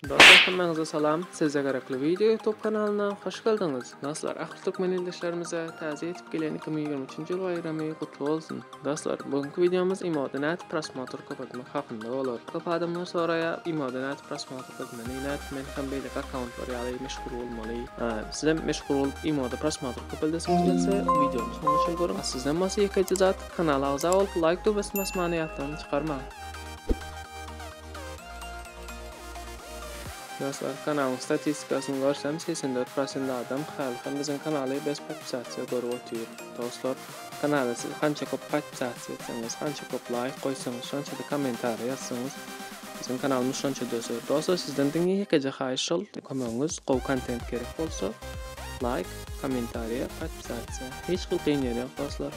Dostlar hemmäňize salam Sizde gerekli video ýutub kanalyna hoş geldiňiz Dostlar ahir türkmen ildeşlerimize täze ýetip gelen iki müň ýigrimi üçünji ýyl baýramy gutly bolsun Dostlar bugünkü wideomyz emoda nädip prosmotr köp etmek hakynda bolar köp adamlar soraýar emoda nädip prosmotr köp etmeli nädip men hem beýleki akkauntlar ýaly meşhur bolmaly sizem meşhur bolup emoda prosmotr köp eldesiňiz gelse wideony soňuna çenli görüň sizden bolsa ýekeje zat kanala agza bolup laýk düwbesini basmany ýatdan çykarmaň Dostlar kanalyň statistikasyny görsem segsen dört prosent adam haly hem biziň kanaly bes podpisasiýa görüp otyr. Dostlar kanala siz hança köp podpisasiýa etseňiz hança köp laýk goýsaňyz şonçada kommentariýa ýazsaňyz biziň kanalymyz şonça döser. Dostlar sizden diňe ýekeje haýyş şol kömegiňiz gowy kontent gerek bolsa laýk kommentariýa podpisasiýa hiç hil kyn ýeri ýok dostlar.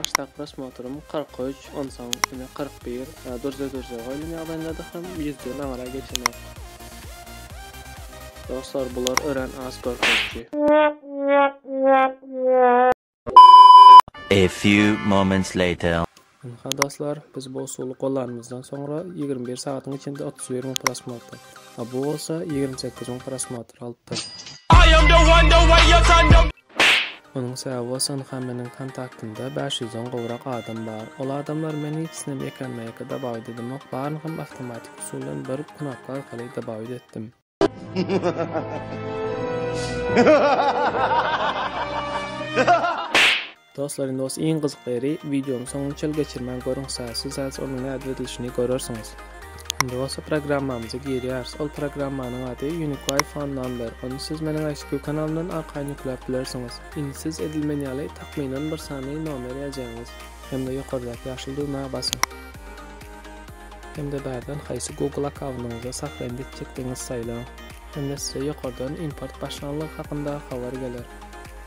Başdak prosmotrum 43, onsoň ine 41, durja-durja goýlan ýagdaýyndadyr hem ýüzden aňra geçenok. Dostlar, bular örän az görkeziji. A few moments later. Ynha dostlar, biz bu usuly gollanymyzdan soňra ýigrimi bir sagatyň içinde otuz bir müň prosmotr, a bu bolsa ýigrimi sekiz müň prosmotr alypdyr. Munuň sebäbi bolsa ynha meniň kontaktymda bäş ýüzden gowrak adam bar. Ol adamlary men hiç hili mekanmaýaka dobawit edemok, baryny hem awtomatik usul bilen bir knopka arkaly dobawit etdim. Dostlar indi os iň gyzykly ýeri wideony soňuna çel geçirmän görüň sazsy saz onuň nädip edilişini görersiňiz. Indi bolsa programmamyza girýäris. Ol programmanyň ady Uniqui Phone Number. Ony siz meniň ICQ kanalymdan arkaýyn ýükläp bilersiňiz. Indi siz edilmen ýaly takmynan bir sany nomer ýazýaňyz hem-de ýokardaky ýaşyl düwmä basyň. hem-de bärden haýsy Google akkaundyňyza sahypany etjekdigiňizi saýlaň, hem-de size ýokardan import başlanlygy hakynda habar geler.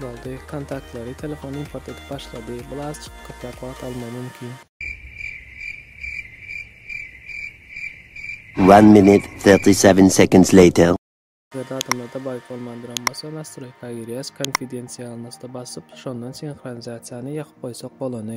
Boldy, kontaktlary telefon import edip başlady, bul azjyk köpräk wagt almagy mümkin. One minute thirty seven seconds later. Ýat adamlarda baý bolmandyram bolsa nastroýka girýäs konfidensialnostda basyp şondan sinhronizasiýany ýakyp goýsak bolany.